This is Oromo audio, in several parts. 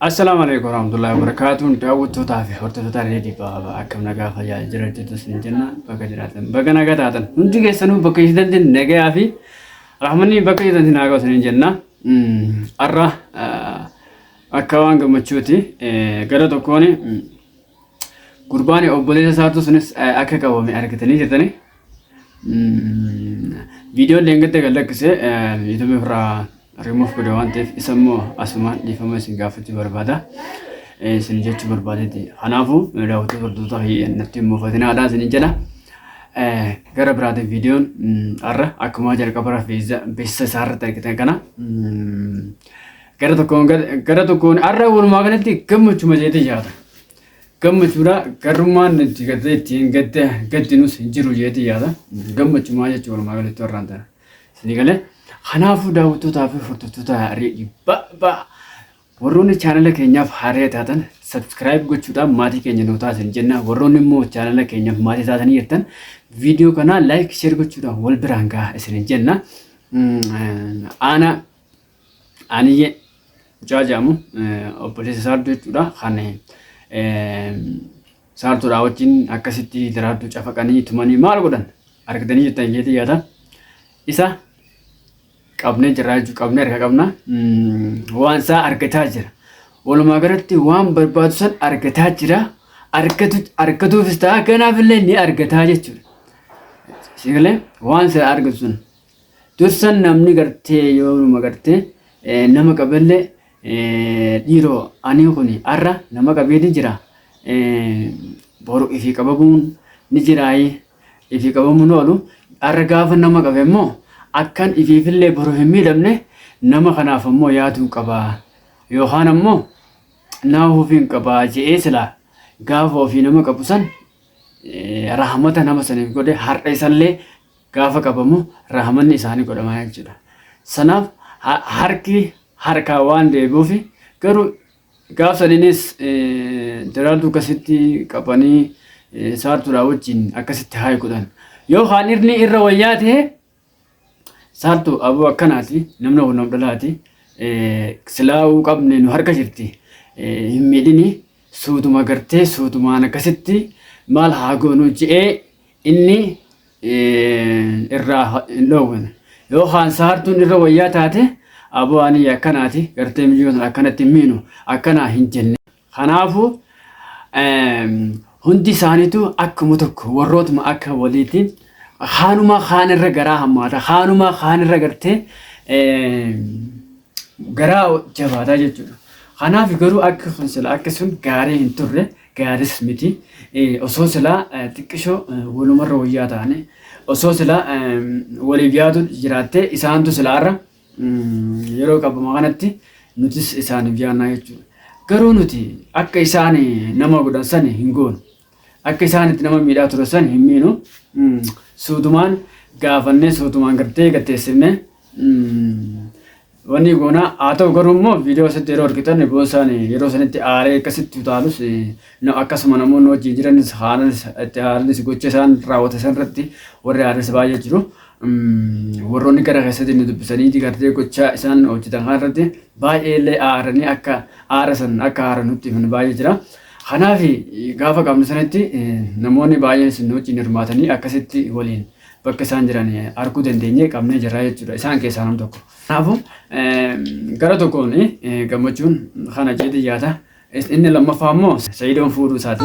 Assalaamu alaikum warahmatullahi wabarakatuh daawwattootaa fi hordoftoota reedii baaba akkam nagaa fayyaa jira jirtu sin jenna bakka jiraatan bakka nagaa taatan hundi keessanuu bakka jirtanti nagayaa fi rahmanni bakka jirtanti nagaa sin jenna har'a akka waan gammachuuti gara tokkoon Gurbaan obboleessa isaatu sunis akka qabame argitanii jirtani. Viidiyoon leengadda kan lakkise yuutuubii irraa rimuuf godhe waan ta'eef isa immoo asumaan dhiifama isin gaafachuu barbaada. Isin jechuu barbaadeeti. Kanaafuu daawwattoota hordoftoota natti hin mufatinaadha isin jedha. Gara biraatiin viidiyoon har'a akkuma jalqaba irraa beeksisa isaarratti argitan kana Gara tokkoon gara tokkoon har'a walumaa galatti gammachuma jeetee yaada. Gammachuudha garrummaan nuti gattee ittiin gattee gatti nus hin jiru jeetee yaada. Gammachumaa jechuun walumaa galatti warraan tana. Isinii galee kanaafuu daawwattootaa fi hordoftoota reedii ba'a. Warroonni chaanala keenyaaf haaraa taatan sabskiraayib gochuudhaan maatii keenya nu taasisan jenna. Warroonni immoo chaanala keenyaaf maatii taatanii jirtan viidiyoo kanaa laayik sheer gochuudhaan wal biraan gahaa isin jenna. Aanaa Aaniyyee mucaa jedhamu obboleessa saartuu jechuudha kan saartuudhaa wajjin akkasitti daraartuu cafaqanii tumanii maal godhan argitanii jettan jeetii yaada isa qabnee jirraa jechuu qabnee harka qabna waan isaa argataa jira walumaa galatti waan barbaadu san argataa jira argatuufis ta'a kanaafillee ni argataa jechuudha. Sigalee waan isaa argatu sun Dursan namni gartee yoo numa gartee nama qabelle dhiiro anii kuni arra nama qabee ni jira boru ifi qababuun ni jiraayi ifi qabamuun oolu arra gaafa nama qabe immoo akkan ifiifillee boru hin miidhamne nama kanaaf ammoo yaaduu qaba yookaan ammoo nama ofiin qaba je'ee sila gaafa ofii nama qabu san rahmata nama saniif godhe har'a isallee gaafa qabamu rahmanni isaanii godhama jechuudha. Sanaaf harki harkaa waan deebi'uuf garuu gaaf saniinis daraaltuu akkasitti qabanii saartuudhaa wajjin akkasitti haayi godhan. Yoo kaan irni irra wayyaa ta'e saartu aboo akkanaati namni kun nam dhalaati silaa'uu qabne nu harka jirti hin miidhini suutuma gartee suutumaan akkasitti maal haa goonu je'ee inni irraa hin dhoowwine yoo haansa hartuun irra wayyaa taate aboo ani akkanaati gartee miyyoo sana akkanatti hin miinu akkanaa hin jenne kanaafuu hundi isaaniitu akkuma tokko warrootuma akka waliiti haanuma kaan irra garaa hammaata haanuma kaan irra gartee garaa jabaataa jechuudha kanaaf garuu akka kun sila akka sun gaarii hin turre gaaris miti osoo silaa xiqqisho walumarra wayyaa taane osoo silaa waliif yaadu jiraattee isaantu silaarra yeroo qabama kanatti nutis isaaniif yaannaa jechuudha. Garuu nuti akka isaan nama godhan sani hin goonu. Akka isaan itti nama miidhaa ture sani hin miinu. Suutumaan gaafannee suutumaan gartee gatteessifnee Wanni goonaa haa ta'u garuu immoo viidiyoo asitti yeroo argitan boon isaan yeroo sanitti aaree akkasitti utaalus akkasuma namoonni wajjin jiranis haalanis itti haalanis gocha isaan raawwata san irratti warri aaranis baay'ee jiru. Warroonni gara keessatti nu dubbisanii gartee gocha isaan hojjetan kana irratti baay'ee illee aaranii akka aara san akka aara nutti himan baay'ee jira. Kanaaf gaafa qabnu sanitti namoonni baay'een isin wajjin hirmaatanii akkasitti waliin bakka isaan jiran arguu dandeenyee qabnee jirra jechuudha. Isaan keessaa nam tokko. Kanaafuu gara tokkoon gammachuun kana jedhee yaada. Inni lammaffaa immoo Sa'idoon fuudhuu isaati.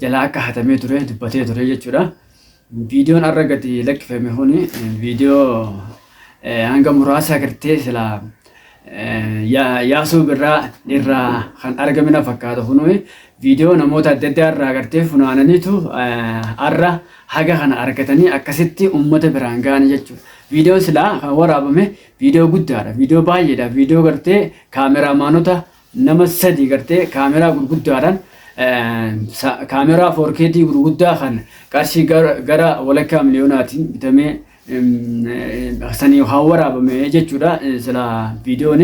jalaa akka hatamee ture dubbatee ture jechuudha. Viidiyoon har'a gadi lakkifame kun viidiyoo hanga muraasa agartee sila yaasuu birraa irraa kan argame na fakkaata kun viidiyoo namoota adda addaa irraa agartee funaananiitu har'a haga kana argatanii akkasitti uummata biraan ga'an jechuudha. Viidiyoon silaa kan waraabame viidiyoo guddaadha. Viidiyoo baay'eedha. Viidiyoo gartee kaameraamaanota nama sadii gartee kaameraa gurguddaadhaan kaameraa 4KT gurguddaa kan qarshii gara walakkaa miliyoonaatiin bitamee sanii haa waraabame jechuudha sila viidiyoon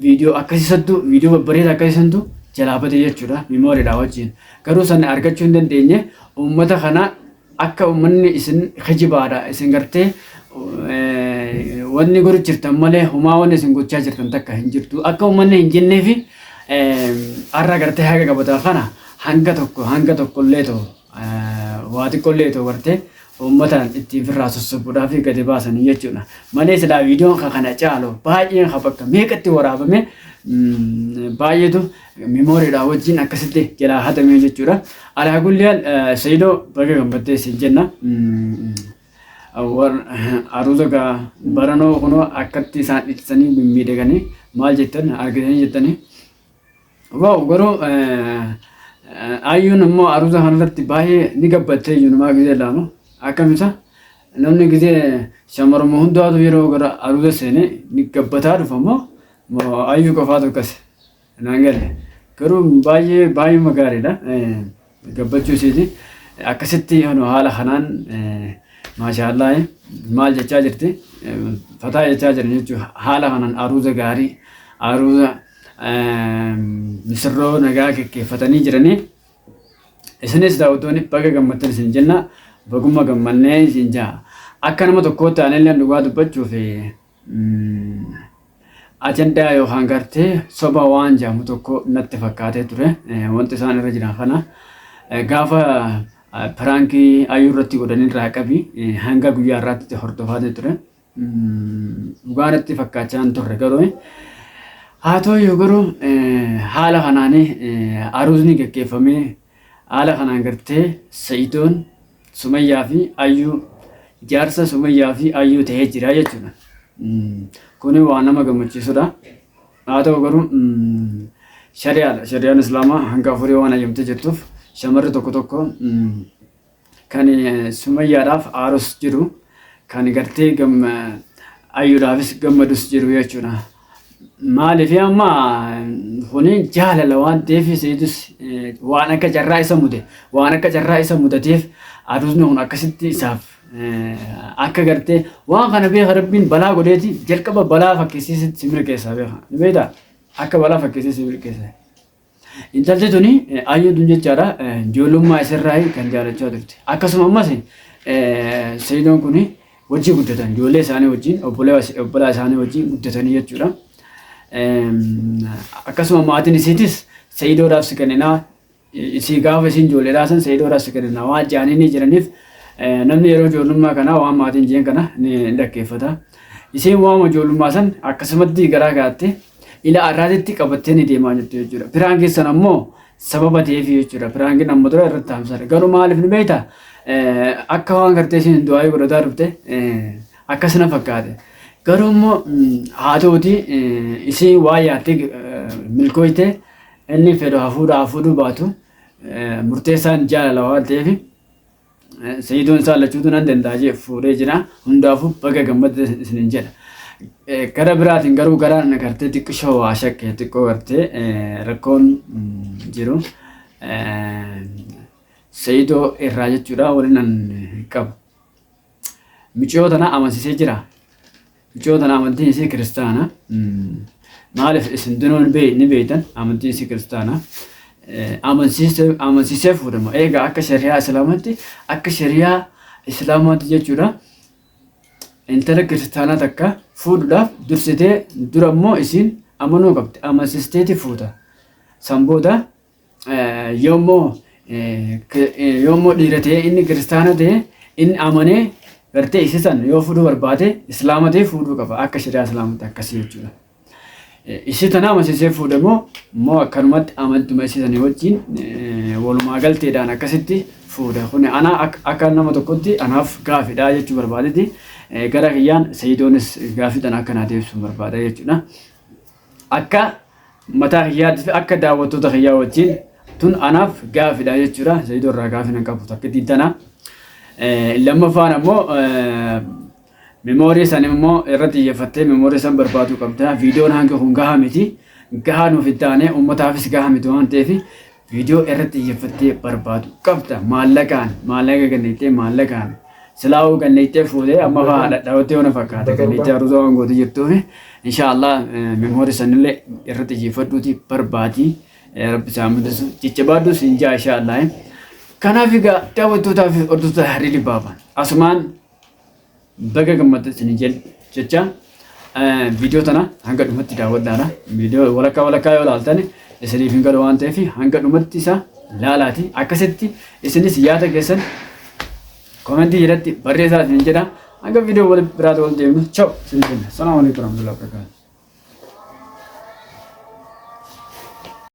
viidiyoo akkasii santu viidiyoo babbareeda akkasii santu jalaa bade jechuudha miimooriidha wajjin garuu san argachuu hin dandeenye uummata kana Akka ummanni isin kijibaadha isin gartee wanni godhu jirtan malee homaa wanni isin gochaa jirtan takka hin jirtu akka ummanni hin jenneefi har'a gartee haga gabataa kana hanga tokko hanga tokkollee ta'u waa xiqqollee ta'u gartee uummataan ittiin firraa sossobuudhaa fi gadi baasanii jechuudha. Malee silaa viidiyoon kana caalu baay'een bakka meeqatti waraabame baay'eetu Memory dha wajjin akkasitti jalaa hatamee jechuudha. Alaa kulli haal Saidoo baga gammaddee siin jenna. Aruuza gaa baranoo kunoo akkatti isaan dhiisanii mimmiidhaganii maal jettan argitanii jettanii. Waaw garuu ayyuun immoo aruuza kanarratti baay'ee ni gabbattee iyyuunumaa gizee laamu akkamisa namni gizee shamaruma hundaatu yeroo gara aruuza seenee ni gabbataa dhufa immoo ayyuu qofaatu akkasi. Naan galle. Garuu baay'ee baay'eema gaariidha. Gabbachuu isheeti. Akkasitti hanu haala kanaan maashaallah maal jechaa jirti fataa jechaa jiran jechuudha. Haala kanaan aruuza gaarii aruuza misirroo nagaa gaggeeffatanii jiranii. Isinis daawwattoonni baga gammaddan isin jenna. Bagumma gammannee isin jaa. Akka nama tokkootti aanillee dhugaa dubbachuuf Ajandaa yookaan gartee soba waan jedhamu tokko natti fakkaatee ture. Wanti isaan irra jiran kana gaafa piraankii ayuu irratti godhan irraa qabi hanga guyyaa irraatti hordofaatee ture. Dhugaa natti fakkaachaa hin turre garuu haa ta'u garuu haala kanaan aruusni gaggeeffamee haala kanaan gartee sa'idoon Sumayyaa fi Ayyuu jaarsa Sumayyaa fi Ayyuu ta'ee jira jechuudha. Kuni waa nama gammachiisudha. Haa ta'u garuu shari'aadha. Shari'aan Islaamaa hanga afurii waan hayyamtee jirtuuf shamarri tokko tokko kan Sumayyaadhaaf aarus jiru kan gartee ayyuudhaafis gammadus jiru jechuudha. Maaliif amma kuni jaalala waan ta'eef seetus waan akka carraa isa mude waan akka carraa isa mudateef aduusni kun akkasitti isaaf akka gartee waan kana beeka rabbiin balaa godheeti jalqaba balaa fakkeessee si milkeessa beeka ni beekta akka balaa fakkeessee si milkeessa. Intalti tuni ayyuu tun jechaadha ijoollummaa isirraa kan jaalachaa turte. Akkasuma ammas Sayidoon kun wajjin guddatan ijoollee isaanii wajjin obbolaa isaanii wajjin guddatanii jechuudha. Akkasuma maatiin isiitis Sayidoodhaaf si kenninaa isii gaafa isiin ijoollee dhaasan Sayidoodhaaf si kenninaa waan jedhanii ni jiraniif namni yeroo ijoollummaa kanaa waan maatiin jeen kana ni dhaggeeffata. Isiin waama ijoollummaa san akkasumatti garaa gaatte ila arraatitti qabattanii deemaa jirtu jechuudha. Piraan keessan ammoo sababa ta'eef jechuudha. Piraankiin amma dura irratti taamsare. Garuu maaliif ni beekta? Akka waan gartee isin du'aayii godhataa dhufte akkas na fakkaate. Garuu immoo haa ta'uti isin waa yaattee milkooyte inni fedhu hafuudha hafuudhuu baatu murteessaan jaalala waan ta'eef Sayidoon isaa lachuutu nan danda'a jee fuudhee jira. Hundaafuu baga gammadde isinin jedha. Gara biraatiin garuu gara gartee xiqqishoo waa shakke xiqqoo gartee rakkoon jiru. Sayidoo irraa jechuudha waliin an qabu. Miciyoo tana amansiisee jira. Miciyoo tana amantiin isii kiristaana. Maaliif isin dunuun ni beeytan amantiin isii kiristaana. Amansiisee fuudhama. Egaa akka shari'aa islaamaatti akka shari'aa islaamaatti jechuudha. Intala kiristaanaa takka fuudhuudhaaf dursitee dura immoo isiin amanuu qabdi. Amansiisteeti fuuta. San booda yoommoo yoommoo dhiira ta'ee inni kiristaana ta'ee inni amanee gartee isii san yoo fuudhuu barbaade islaama ta'ee fuudhuu qaba akka shari'aa islaamatti akkasii jechuudha. Isii tana amansiisee fuudhe moo moo akkanumatti amantuma isii sanii wajjin walumaa galteedhaan akkasitti fuudhe kun ana akka nama tokkotti anaaf gaafidha jechuu barbaadeti gara kiyyaan sayidoonis gaafii tana akka naa deebisuun barbaada jechuudha. Akka mataa kiyyaatti fi akka daawwattoota kiyyaa wajjin tun anaaf gaafidha jechuudha. Sayido irraa gaafin hin qabu takkittiin tana. Lammaffaan ammoo memoorii san immoo irratti xiyyeeffattee memoorii san barbaaduu qabda. Viidiyoon hanga kun gahaa miti. Gahaa nuuf hin taane uummataafis gahaa miti waan ta'eef Viidiyoo irratti xiyyeeffattee barbaadu qabda. Maallaqaan maallaqa kennittee maallaqaan silaa'uu kennittee fuutee amma fa'aa dhadhaa'utti yoo na fakkaata kennittee haruusa waan gootu jirtuun inshaallah memoori sanillee irratti xiyyeeffadhuuti barbaadi. Rabbi isaa mul'isu jajjabaadhu siin jaa inshaallah. Kanaaf egaa daawwattootaa fi hordoftoota Hariilii Baabaan asumaan Baga gammaddan isin jenna jecha viidiyoo tana hanga dhumatti daawwadhaadha. Viidiyoo walakkaa walakkaa yoo ilaaltan isiniif hin galu waan ta'eef hanga dhumatti isa laalaati. Akkasitti isinis yaada keessan komentii jalatti barreessaa isin jedha. Hanga viidiyoo wal biraatti wal deemnu. Chao! Isin jenna. Salaamu alaikum warahmatullahi wabarakatuh.